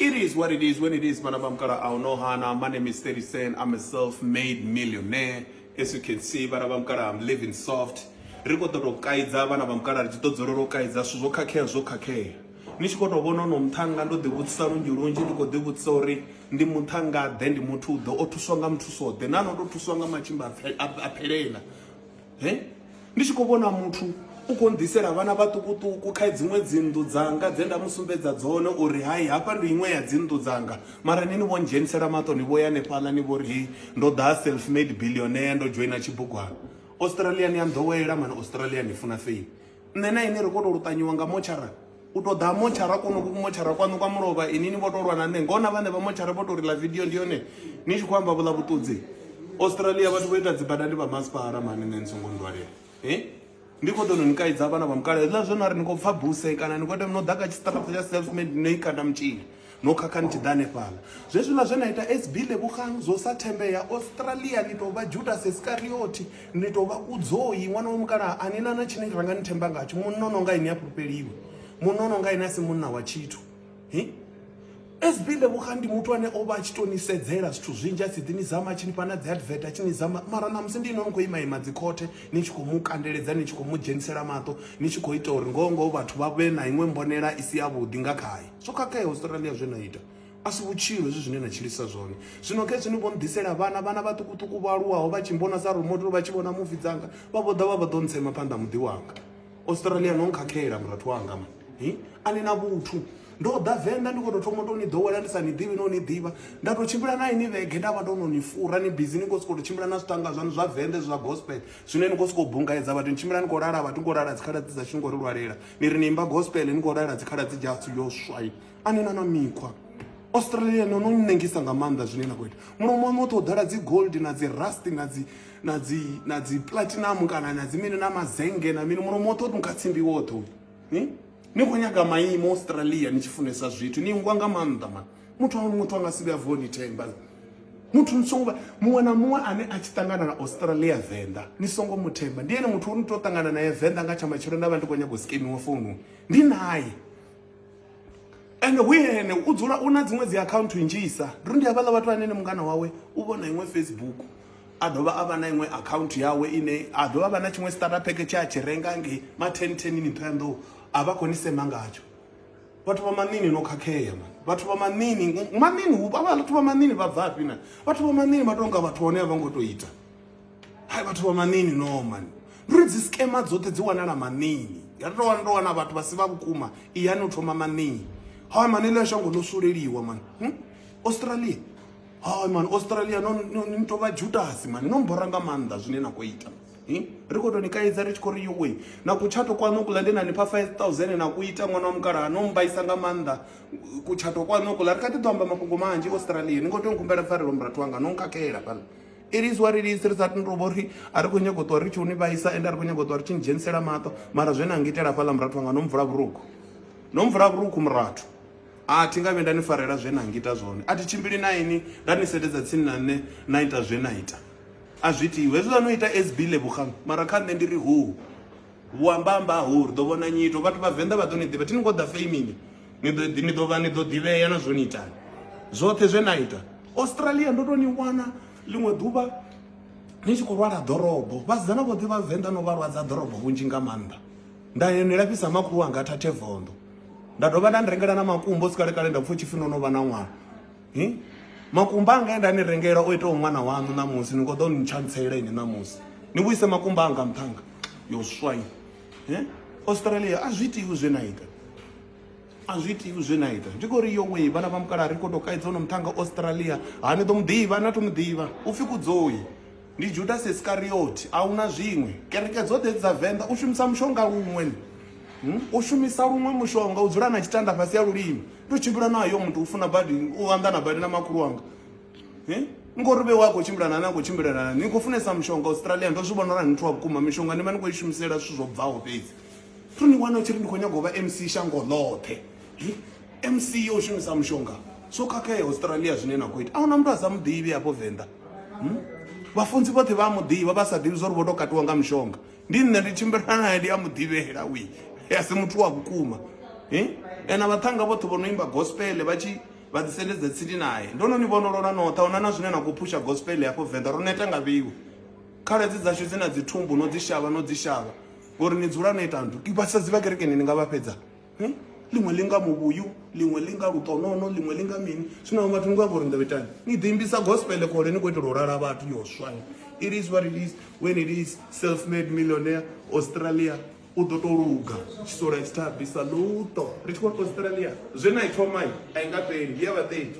It is what it is when it is, Banabamkara Aonohana. My name is 30 Cent. I'm a self made millionaire. As you can see, Banabamkara, I'm living soft. ri khou ṱotou kaidza vhana vha mukala ri tshi ḓo dzula ro kaidza zwithu zwo khakhea zwo khakhea ni tshi khou tou vhona ono muṱhanga ndo ḓivhudzisa lunzhi lunzhi ndi khou ḓivhudzisa uri ndi muṱhangaḓe ndi muthu ḓe o thuswa nga muthusoḓe na no tou thuswa nga matshimba a phelela he ndi tshi khou vhona muthu u khou nḓisela vhana vhaṱukuṱuku kha dziṅwe dzinnḓu dzanga dze nda mu sumbedza dzone uri hai hafha ndi iṅwe ya dzinnḓu dzanga mara ni ni vho ndzhenisela maṱo ni vho ya hanefhaḽa ni vho ri hei ndo ḓa self made billionaire ndo dzhoina tshibugwana australia ni a nḓowela mani australia ni funa fame nṋe na ine ri khou tou luṱanyiwa nga motshara u to ḓa motshara kono ku motshara kwanu kwa mulovha ini ni vho to lwa na nṋe ngona vhane vha motshara vho to ri ḽa video ndi yone ni tshi khou amba vhuḽa vhuṱudzi australia vhathu vho ita dzibada ndi vha masipala mani nṋe ni songo ndwalela e ndi khou ḓo no ni kaidza vhana vha mukala hezwiḽa zwo no ri ni khou pfha buse kana ni khou ita no ḓa kha tshiṱaraṱa tsha self made no i kanda mutshini No khakha ni tshi ḓa hanefhala. Zwezwiḽa zwe na ita SB Lebogang zwo sa thembea, Australia ni tou vha Judas Iskariothi, ni tou vha Kudzoi, ṅwana wa mukalaha, a ni na na tshine ra nga ni themba ngatsho. Munna o no nga ini ha fhulufheliwi. Munna o no nga ini a si munna wa tshithu. Hi? SB Lebogang ndi muthu ane o vha a tshi tou ni sedzela zwithu zwinzhi a tshi ḓi ni zama a tshi ni fha na dzi advert a tshi ni zama mara ṋamusi ndi ino ni khou ima ima dzi khothe ni tshi khou mu kandeledza ni tshi khou mu dzhenisela maṱo ni tshi khou ita uri ngoho ngoho vhathu vha vhe na iṅwe mbonela i si yavhuḓi nga khaye. zwo khakheaho Australia zwe na ita a si vhutshilo hezwi zwine na tshilisa zwone zwino khezwi ni vho ni ḓisela vhana vhana vhaṱukuṱuku vho aluwaho vha tshi mbona sa role model vha tshi vhona muvi dzanga vha vho ḓa vha vha ḓo ntsema phanḓa muḓi wanga Australia no nkhakhela murathu wanga ma a ni na vhuthu ndo ḓa venḓa ndi khou tou thoma tou ni ḓowela ndi sa ni ḓivhi no ni ḓivha nda tou tshimbila na ini vhege nda vha ndo no ni fura ni bizi ni khou sokou tou tshimbila na zwitanga zwanu zwa venḓa zwa gospel zwine ni khou sokou bungaedza vhathu ni tshimbila ni khou lala vhathu ni khou lala dzikhaladzi dzashu ni khou ri lwalela ni ri ni imba gospel ni khou lalela dzikhaladzi dzashu yo swai a ni na na mikhwa australia no no nnengisa nga maanḓa zwine na khou ita mulomo waṋu woṱhe u ḓala dzi gold na dzi rust na dzi na dzi na dzi platinum kana na dzi mini na mazenge na mini mulomo woṱhe u nunga tsimbi woṱhe ni ni khou nyaga maimo australia ni tshi funesa zwithu ni ngwa nga maanḓa mani muthu a muthu a nga si vhuya vuwa ni themba muthu ni songo muṅwe na muṅwe ane a tshi ṱangana na australia venḓa ni songo mu themba ndi ene muthu o ni to ṱangana naye venḓa nga tsha matshelo nda vha ndi khou nyaga u skemiwa founu ndi naye ende hu ene u dzula u na dziṅwe dzi akhaunthu nnzhisa ndi uri ndi havhaḽa vhathu anene mungana wawe u vhona iṅwe facebook a dovha a vha na iṅwe akhaunthu yawe ine a dovha a vha na tshiṅwe starter pack tshe a tshi renga nge ma ten ten ni ṱhoya nḓou a vha khou ni sema ngatsho vhathu vha maṋini no khakhea man vhathu vha maṋini maṋini hu vhathu vha maṋini vha bvafhi na vhathu vha maṋini vha tonga vhathu hone a vha ngo to ita hai vhathu vha maṋini no man ndi uri dzi skema dzoṱhe dzi wanala maṋini ya to wana to wana vhathu vha si vha vhukuma iyani u thoma maṋini hai man ile shango no suleliwa man hm? australia hai man australia no ni to vha jutasi man no mbora nga maanḓa zwine na khou ita hm? ri khou tou ni kaidza ri tshi khou ri yowe na kutshato kwaṋu kuḽa ndi na ni pha 5000 na ku ita ṅwana wa mukalaha no mmbaisa nga maanḓa kutshato kwaṋu kuḽa ri kha ḓi ḓo amba mafhungo manzhi australia ni khou tea u khumbela pfarelo murathu wanga no nkhakhela fhano it is what it is ri sa tendo vho ri a ri khou nyanga u ṱuwa ri tshi u ni vhaisa ende a ri khou nyanga u ṱuwa ri tshi ni dzhenisela maṱo mara zwe na ngitela fhaḽa murathu wanga no mvula vhurukhu no mvula vhurukhu murathu a thi nga vhe nda ni farela zwe na ngita zwone a thi tshimbili na ini nda ni sededza tsini na nṋe na ita zwe na ita A zwi itiwi hezwiḽa no ita SB Lebogang mara kha nṋe ndi ri hoo vhu amba amba ho ri ḓo vhona nyito vhathu vha venḓa vha ḓo ni ḓivha thi ni khou ḓa family ni ḓo ni ḓo vha ni ḓo ḓivhea na zwo ni itani zwoṱhe zwe na ita Australia ndo to ni wana ḽiṅwe ḓuvha ni tshi khou lwala ḓorobo vhasidzana vhoṱhe vha venḓa no vha lwadza ḓorobo vhunzhi nga maanḓa nda ni lafhisa makhulu wanga thathe vondo nda dovha nda ni rengela na makumbo sikale kale nda pfha u tshifhi no no vha na ṅwana hmm? makumba anga enda ni rengela o itaho ṅwana waṋu ṋamusi ni khou ḓo ni tshantselela ini ṋamusi ni vhuise makumba anga nṱhanga yo swai eh? australia a zwi itiwi zwe na ita a zwi itiwi zwe na ita ndi khou ri yo wei vhana vha mukala ri khou tou kaidza ono muṱhanga australia ha ni ḓo mu ḓivha na to mu ḓivha u pfhi kudzoi Ndi Judasi Iskariothi a huna zwiṅwe. Kereke dzoṱhe hedzi dza Venḓa u shumisa mushonga luṅwe hmm? u shumisa luṅwe mushonga u dzula na tshitanda fhasi ya lulimi ndo tshimbila na yo muthu u funa badi u anḓana badi na makhulu wanga hmm? ngori vhe wa khou tshimbila na na khou tshimbilelana ni khou funesa mushonga australia ndo zwi vhona uri ni thu wa vhukuma mishonga ni vha ni khou i shumisela zwithu zwo bvaho fhedzi thu ni wana u tshi ri ndi khou nyaga u vha mc shango ḽoṱhe hmm? mc yo u shumisa mushonga so khakhea australia zwine na khou ita a huna muthu a sa muḓivhi hafho venḓa hmm? vhafunzi vhoṱhe vha a mu ḓivha vha sa ḓivhi zwa uri vho tou katiwa nga mushonga ndi nṋe ndi tshimbilana naye ndi a mu ḓivhela wi a si muthu wa vhukuma hmm? ena vhaṱhanga vhoṱhe vho no imba gospele vha tshi vha ḓisendedza tsini naye ndo no ni vhonolola noṱha huna na zwine na khou phusha gospel hafho venḓa ro neta nga vhiwe khaladzi dzashu dzi na dzithumbu no dzi shavha no dzi shavha ngori ni dzula no ita nthu vhasadzi vha kerekeni ni nga vha fhedza Eh? ḽiṅwe ḽi nga muvhuyu ḽiṅwe ḽi nga luṱonono ḽiṅwe ḽi nga mini zwino vhathu ni khou amba uri ni ḓo itani ni ḓo imbisa gospel khole ni khou itela u lala vhathu yo swani it is what it is when it is self made millionaire australia u ḓo tou luga tshisola tshi thabisa luṱo ri tshi khou australia zwe na i thomai a i nga fheli ndi ya vhaṱethi